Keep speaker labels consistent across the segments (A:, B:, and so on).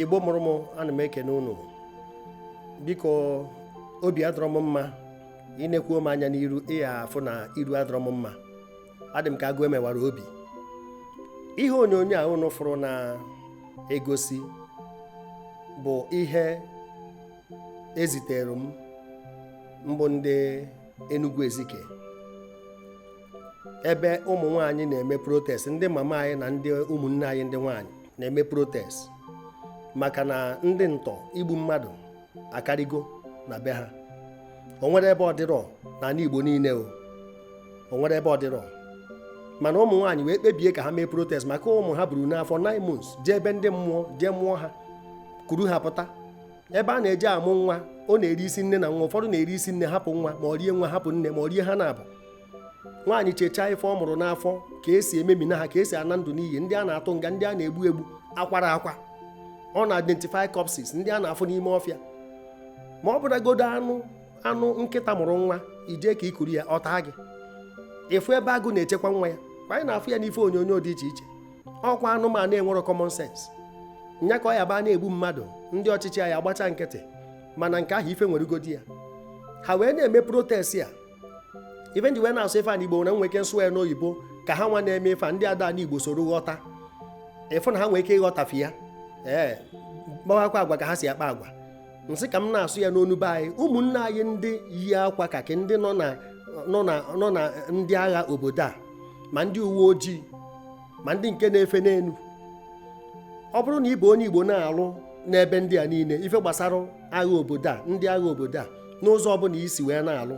A: Igbo mụrụ m ana m ekene unu biko obi adọrọ m mma ị nekwuo m anya n'iru ị ya-afụ na iru adọrọ m mma adị m ka agụ e mewara obi ihe onyonyo a unu fụrụ na-egosi bụ ihe e zitere m bụ ndị Enugu Ezike ebe ụmụ nwaanyị na-eme protest ndị mama anyị na ndị ụmụnne anyị ndị nwaanyị na-eme protest maka na ndị ntọ igbu mmadụ akarịgo na be ha o nwere ebe ọ dịrọ n'anị Igbo niile o o nwere ebe ọ dịrọ mana ụmụ nwaanyị wee kpebie ka ha mee protest maka ụmụ ha buru n'afọ 9 months jee ebe ndị mmụọ jee mụọ ha kuru ha pụta ebe a na-eje amụ nwa ọ na-eri isi nne na nwa ụfọdụ na-eri isi nne hapụ nwa ma ọ rie nwa hapụ nne ma ọ rie ha naabụ nwaanyị chechaa ife ọ mụrụ n'afọ ka e si ememina ha ka e si ana ndụ n'iyi ndị a na-atụ nga ndị a na-egbu egbu akwara akwa ọ na-identify corpses ndị a na-afụ n'ime ọfịa ma ọ bụragodo anụ anụ nkịta mụrụ nwa i jee ka i kuru ya ọ taa gị ị fụ ebe agụ na-echekwa nwa ya kwa anyị na-afụ ya n'ife onyonyo dị iche iche ọkwa anụmanụ enwero common sense nya ka ọ ya-abụ a na-egbu mmadụ ndị ọchịchị ya agbacha nkịtị mana nke ahụ ife nwere ugodi ya ha wee na-eme protest a ife m ji wee na-asụ ife a n'Igbo na m nwee ike m sụ ya n'oyibo ka ha nwa na-eme ife ndị a ada anụ Igbo soro ghọta ị fụ na ha nwee ike ịghọta ife a ee kpawakwa agwa ka ha si akpa agwa m sị ka m na-asụ ya n'onu be anyị ụmụnne anyị ndị yi akwa kaki ndị nọ na ndị agha obodo a ma ndị uwe ojii ma ndị nke na-efe n'enu ọ bụrụ na ị bụ onye Igbo na-alụ n'ebe ndị a niile ife gbasara agha obodo a ndị agha obodo a n'ụzọ ọbụna i si wee na-alụ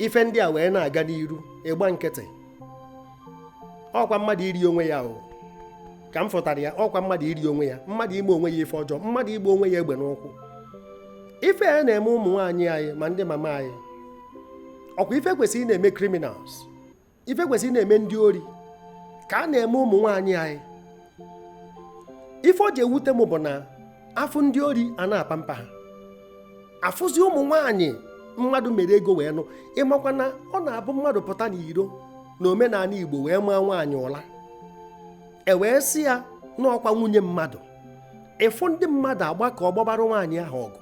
A: ife ndị a wee na-aga n'iru ị gba nkịtị ọkwa mmadụ iri onwe ya o ka m fụtara ya ọkwa mmadụ iri onwe ya mmadụ ime onwe ya ife ọjọọ mmadụ ịgba onwe ya egbe n'ụkwụ ife a na-eme ụmụ nwaanyị anyị ma ndị mama anyị ọkwa ife kwesịrị ịna-eme criminals ife kwesịrị ịna-eme ndị ori ka a na-eme ụmụ nwaanyị anyị ife o ji ewute m bụ na a fụ ndị ori a na-apamper ha a fụzi ụmụ nwaanyị mmadụ mere ego wee nụ ị makwa na ọ na-abụ mmadụ pụta n'iro na omenanị Igbo wee maa nwaanyị ụla e wee sị ya na ọkwa nwunye mmadụ ị fụ ndị mmadụ agbakọọ gbabara nwaanyị ahụ ọgụ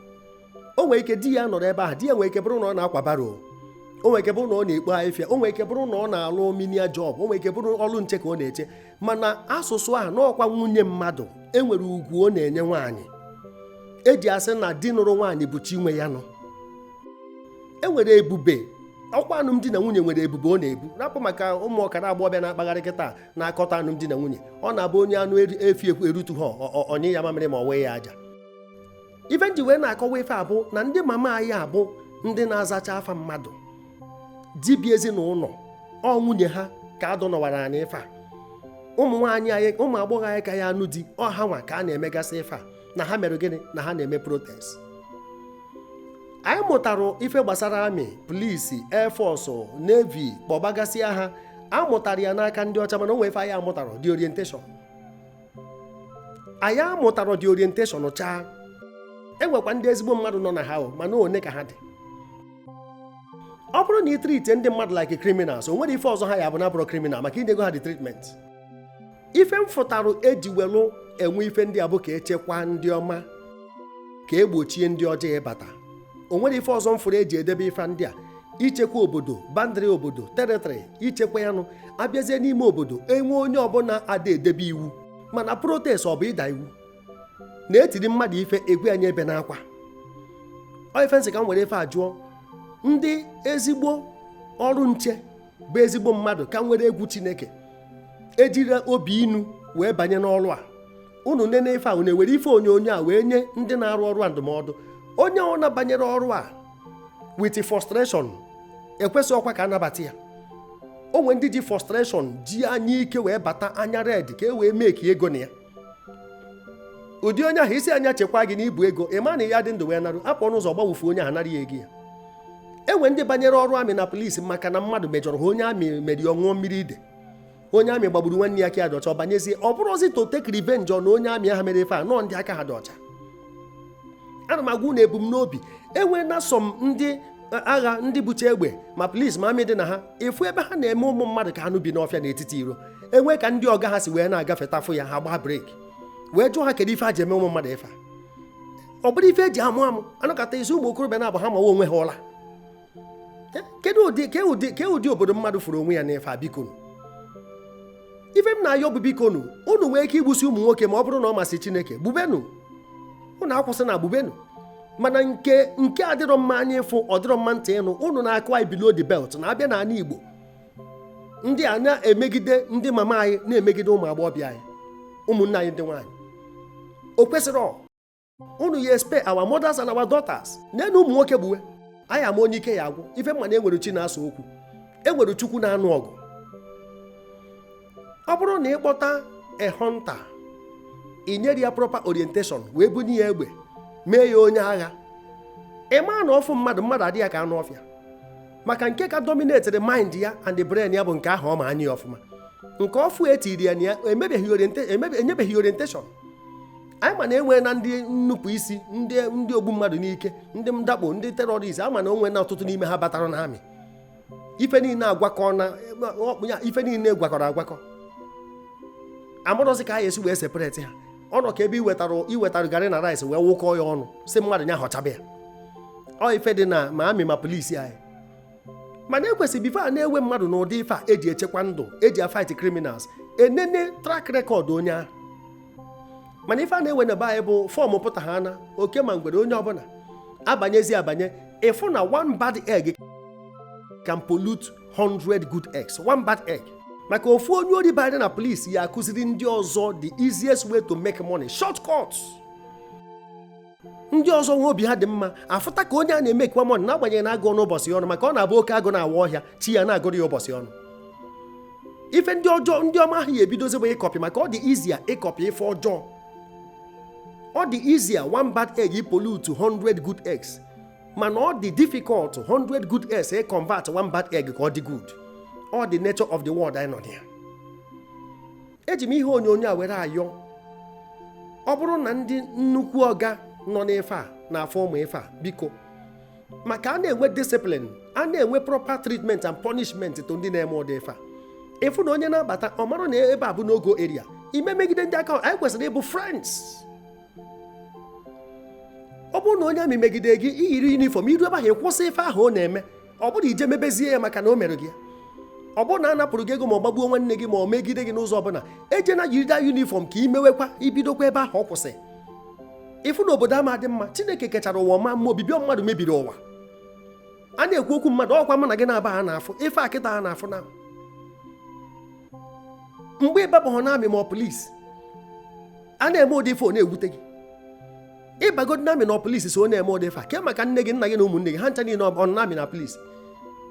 A: o nwere ike di ya nọrọ ebe ahụ di ya nwere ike bụrụ na ọ na-akwa baro o nwere ike bụrụ na ọ na-ekpo afịfịa o nwere ike bụrụ na ọ na-alụ menial job o nwere ike bụrụ ọrụ nche ka ọ na-eche mana asụsụ ahụ na ọkwa nwunye mmadụ enwere ugwu ọ na-enye nwaanyị eji asị na di nụrụ nwaanyị bụ chi nwe ya nụ enwere ebube ọkwa alụmdi na nwunye nwere ebube ọ na-ebu rapụ maka ụmụ ọkara agbọghọbịa na-akpagharị kịta na-akọtọ alụmdi na nwunye ọ na-abụ onye anụ efi erutu ha ọ nyụa ya mamịrị ma ọ wụa ya aja ife m ji wee na-akọwa ife a bụ na ndị mama anyị a bụ ndị na-azacha afa mmadụ di bi ezinụlọ ọ nwunye ha ka a dọnọwara anyị ife a ụmụ nwaanyị anyị ụmụ agbọghọ anyị ka ya anụ di ọ ha nwa ka a na-emegasị ife a na ha mere gịnị na ha na-eme protest anyị mụtara ife gbasara amị polisi air force navy kpọbagasịa ha a mụtara ya n'aka ndị ọcha mana o nwee ife anyị amụtarọ the orientation anyị amụtarọ the orientation chaa enwekwa ndị ezigbo mmadụ nọ na ha o mana one ka ha dị ọ bụrụ na ị treatie ndị mmadụ like criminals o nwere ife ọzọ ha ya-abụ na-abụrọ criminal maka i nyego ha the treatment ife m fụtarụ eji welụ enwe ife ndị a bụ ka echekwa ndị ọma ka egbochie ndị ọjọọ ịbata o nwere ife ọzọ m fụrụ eji edebe ife ndị a ichekwa obodo boundary obodo territory ichekwa ya nụ abịazie n'ime obodo enwe onye ọbụla ada edebe iwu mana protest ọ bụ ịda iwu na etiri mmadụ ife agwa nya ebena akwa ọ ife m sị ka m were ife a jụọ ndị ezigbo ọrụ nche bụ ezigbo mmadụ ka nwere egwu chineke ejirọ obi inu wee banye n'ọrụ a unu nene ife a unu ewere ife onyonyo a wee nye ndị na-arụ ọrụ a ndụmọdụ onye ọbụna banyere ọrụ a with frustration ekwesịrọkwa ka a nabata ya o nwee ndị ji frustration ji anya ike wee bata anya red ka e wee make ego na ya ụdị onye ahụ ị sị nya chekwa gị na i bu ego ị ma na ị ya-adị ndụ wee naru apụọ n'ụzọ gbagbue onye ahụ nara ya ego ya enwe ndị banyere ọrụ amị na polisi maka na mmadụ mejọrọ ha onye amị mere ọ ṅụọ mmiri ide onye amị gbagburu nwanne ya aka dị ọcha ọ banyezie ọ bụrụzi to take revenge na onye amị ahụ mere ife a no ọ ndị aka ha dị ọcha ana m agwa unu ebumnobi enwee na some ndị e, agha ndị bucha egbe ma polisi ma amị dị na ha ị fụ ebe ha na-eme ụmụ mmadụ ka anụ bi n'ọfịa n'etiti iro enwee ka ndị ọga ha si wee na-agafeta fụ ya ha gbaa breki wee jụọ ha kedu ife ha ji eme ụmụ mmadụ ife ọ bụrụ ife eji amụ amụ anụkọta isi ụmụ okorobịa na-abụ ha mawa onwe ha ụla ke ụdị obodo mmadụ fụrụ onwe ya n'ife a bikonu ife m na-ayọ bụ bikonu unu nwee ike igbusi ụmụ nwoke ma ọ bụrụ na ọ masị chineke gbubenu unu akwụsịna gbubenu mana nke a adịrọ mma anya ịfụ ọ dịrọ mma ntị ịnụ unu na-akụ anyị below the belt na abịa n'ala igbo ndị a na-emegide ndị mama anyị na-emegide ụmụ agbọghọbịa anyị ụmụnne anyị ndị nwaanyị o kwesịrị unu ya espare our mothers and our daughters nenu ụmụ nwoke gbuwe anyị ama onye ike ya agwụ ife m ma na enwere chi na-asa okwu enwere chukwu na-anụ ọgụ ọ bụrụ na ịkpọta a hunter inyerọ ya proper orientation wee bunye ya egbe mee ya onye agha ịma na ọ fụ mmadụ mmadụ adị ya ka anụ ọfịa maka nke ka dominated mind ya and the brain ya bụ nke ahụ ọ ma anya ya ọfụma nke ọfụ etiri ya na ya enyebeghị orientation anyị ma na enwe na ndị nnupụ isi ndị ogbu mmadụ n'ike ndị mdakpo ndị terrorist ama na enwe na ọtụtụ n'ime ha batara na army ife niile agwakọ na ya ife niile gwakọrọ agwakọ amarọzi ka anyị esi wee separate ha ọ nọ ka ebe iwetara garị na rice wee wụkọọ ya ọnụ sị mmadụ nya họchaba ya ọ ife dị na ma army ma police anyị mana ekwesịrị before a na-ewe mmadụ n'ụdị ife a eji echekwa ndụ eji afight criminals enene track record onye ahụ mana ife a na-ewe na be anyị bụ form pụta ha na oke ma ngwere onye ọbụla abanyezi abanye ịfụ na one bad egg can pollute 100 good eggs one bad egg maka ofu onye ori banyere na police ya akụziri ndị ọzọ the easiest way to make money shortcuts ndị ọzọ nwe obi ha dị mma afụta ka onye a na-emekwa money n'agbanyeghị na agụọ n'ụbọchị ọnụ maka ọ na-abụ oke agụ na-awa ọhịa chi ya na-agụrụ ya ụbọchị ọnụ ife ndị ọjọọ ndị ọma ahụ ya ebidozi bụ ịcopy maka ọ dị easier ịcopy ife ọjọọ ọ dị easier one bad egg pollute 100 good eggs mana ọ dị difficult 100 good eggs e convert one bad egg ka ọ dị good ọ the nature of the world anyị nọ na ya eji m ihe onyonyo a were ayọ ọ bụrụ na ndị nnukwu ọga nọ n'ife a na-afụ ụmụ ife a biko maka a na-enwe discipline a na-enwe proper treatment and punishment to ndị na-eme ụdị ife a ịfụ na onye na-abata ọ mara na ebe a bụ no go area ime megide ndị aka anyị kwesịrị ịbụ friends ọ bụrụ na onye army megide gị iyiri uniform iru ebe ahụ ịkwụsị ife ahụ ọ na-eme ọ bụrọ ije mebezie ya maka na o mere gị ya ọ bụrụ na a napụrụ gị ego ma ọ gbagbuo nwanne gị ma ọ megide gị n'ụzọ ọbụla ejena yiri the uniform ka imewekwa ibidokwa ebe ahụ ọ kwụsị ịfụ na obodo ama adị mma chineke kechara ụwa ma mma obibi mmadụ mebiri ụwa a na-ekwu okwu mmadụ ọkwa mụ na gị na-aba ha na-afụ ife a kịta ha na-afụ na mgbe ịbabahụ na army ma ọ police a na-eme ụdị ife ọ na-ewute gị ịbagodo na army na police so na-eme ụdị ife a ke maka nne gị nna gị na ụmụnne gị ha ncha niile ọ na army na police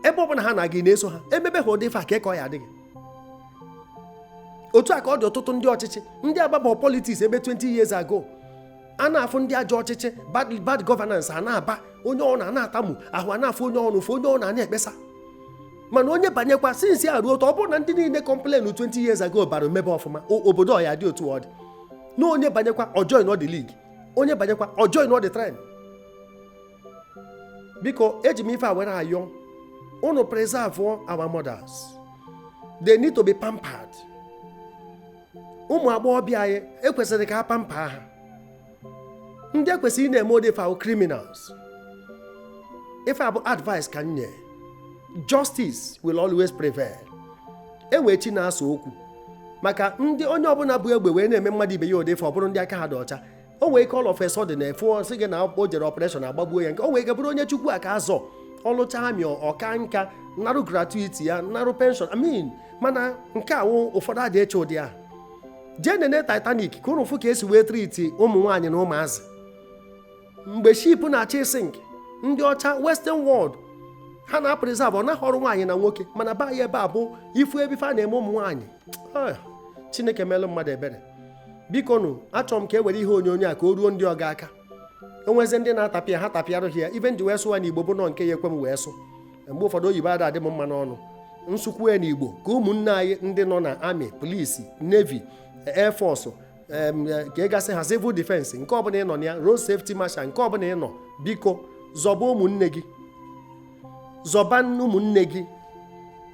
A: ebe ọ bụla ha na-aga na-eso ha emebe ha ụdị ife a ke ka ọ ya adị gị otu a ka ọ dị ọtụtụ ndị ọchịchị ndị agbaba politics ebe 20 years ago a na-afụ ndị ajọ ọchịchị bad bad governance a na-aba onye ọbụna na-atamu ahụ a na-afụ onye ọrụ fụ onye ọrụ na-ekpesa mana onye banyekwa sinsi a ruo otu ọ bụrụ na ndị niile complain 20 years ago bara mebe ọfụma obodo ọ ya adị otu ọ dị na onye banyekwa ọ join the league onye banyekwa ọ join the trend biko eji m ife a were ayọ unu preserve our mothers they need to be pampered ụmụ agbọghọbịa anyị e kwesịrị ka a pamper ha ndị e kwesịrị ị na-eme ụdị ife a wụ criminals ife a bụ advice ka m nye justice will always prevail e wee chi na-asa okwu maka ndị onye ọbụla bu egbe wee na-eme mmadụ ibe ya ụdị ife ọ bụrụ ndị aka ha dị ọcha o wee ike all of a sudden na-efu a sị gị na o jere operation a gbagbuo ya nke o wee ike bụrụ onye chukwu a ka azọ ọ lụcha army ọ ka nka narụ gratuity ya narụ pension amin mana nke a wụ ụfọdụ adị eche ụdị ahụ jee nene Titanic ka ụnụ fụ ka e si wee treat ụmụ nwaanyị na ụmụazị mgbe ship na-achọ ịsink ndị ọcha western world ha na-apreserve na-ahọrọ nwaanyị na nwoke mana be anyị ebe a bụ ị fụ ebe ife a na-eme ụmụ nwaanyị ah, chineke meelụ mmadụ ebere biko nụ achọrọ m ka e were ihe onyonyo a ka o ruo ndị ọga aka e nwezi ndị na-atapịa ha tapịarụ ha ya ife m ji wee sụwa n'igbo bụ na ọ nke ya ekwe m wee sụ mgbe ụfọdụ oyibo ada adị m mma n'ọnụ m sụkwue n'igbo ka ụmụnne anyị ndị nọ na army police navy air ka ị gasị ha civil defense nke ọbụla ị nọ na ya road safety marshal nke ọbụla ị nọ biko zọba ụmụnne gị zọba ụmụnne gị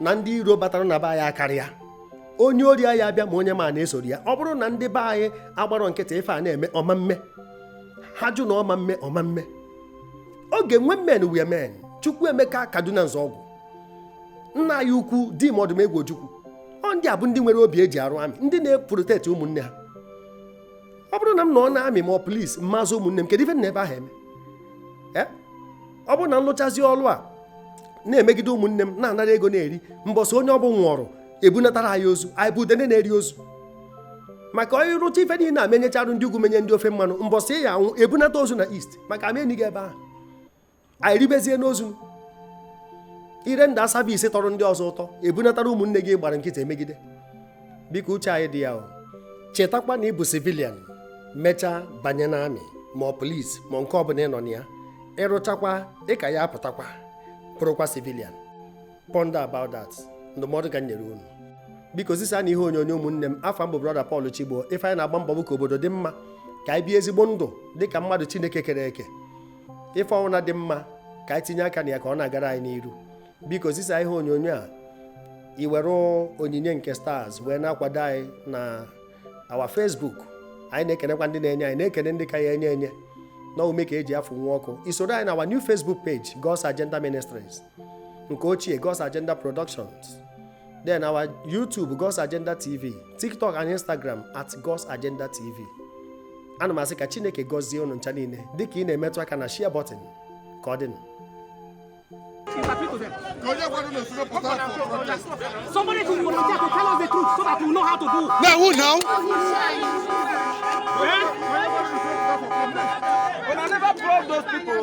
A: na ndị iro batara na be anyị akarịa onye ori anyị abịa ma onye ma na-esoro ya ọ bụrụ na ndị be anyị agbarọ nkịtị ife a na-eme ọ ma eme ha jụ na ọ ma eme ọ ma eme oge when men were men Chukwuemeka Kaduna Nzeogwu nna anyị ukwu Dim Odumegwu Ojukwu ọ ndị a bụ ndị nwere obi e ji arụ army ndị na-eprotect ụmụnne ha ọ bụrụ na m nọ na army ma ọ police m ma azọ ụmụnne m kedu ife m nọ ebe ahụ eme eh? ọ bụrụ na m lụchazi ọlụ a na-emegide ụmụnne m na-anara ego na-eri mbọsị onye ọ bụ nwụrụ e bunatara anyị ozu anyị bụ udene na-eri ozu maka onye rụcha ife niile na-emenyecharụ ndị ugwu menye ndị ofe mmanụ mbọsị ya anwụ e bunata ozu na East maka a ma eni gị ebe ahụ anyị ribezie n'ozu ị render service tọrọ ndị ọzọ ụtọ e bunatara ụmụnne gị ị gbara nkịtị e megide biko uche anyị dị ya o chetakwa na ị bụ civilian mechaa banye na army ma ọ police ma nke ọbụla ị nọ na ya ị rụchakwa ị ka ya apụtakwa bụrụkwa civilian ponder about that ndụmọdụ ka m nyere unu biko zisanụ ihe onyonyo ụmụnne m afa m bụ brother Paul Chigbo ife anyị na-agba mbọ bụ ka obodo dị mma ka anyị bie ezigbo ndụ dị ka mmadụ Chineke kere eke ife ọnwụna dị mma ka anyị tinye aka na ya ka ọ na-agara anyị n'iru biko zisa ihe onyonyo a i were onyinye nke stars wee na-akwado anyị na our Facebook anyị na-ekenekwa ndị na-enye anyị na-ekene ndị ka ya enye enye na ume ka e ji afụ nwa ọkụ i soro anyị na our new Facebook page God's Agenda Ministries nke ochie God's Agenda Productions Then our YouTube, God's Agenda TV, TikTok and Instagram at God's Agenda TV. Ana m asị ka Chineke gọzie unu ncha niile dịka ị na-emetụ aka na share button ka ọ dịnụ.
B: Somebody to volunteer to tell us the truth so that we know how to do. Now who
C: now? Eh?
B: When I never brought those people.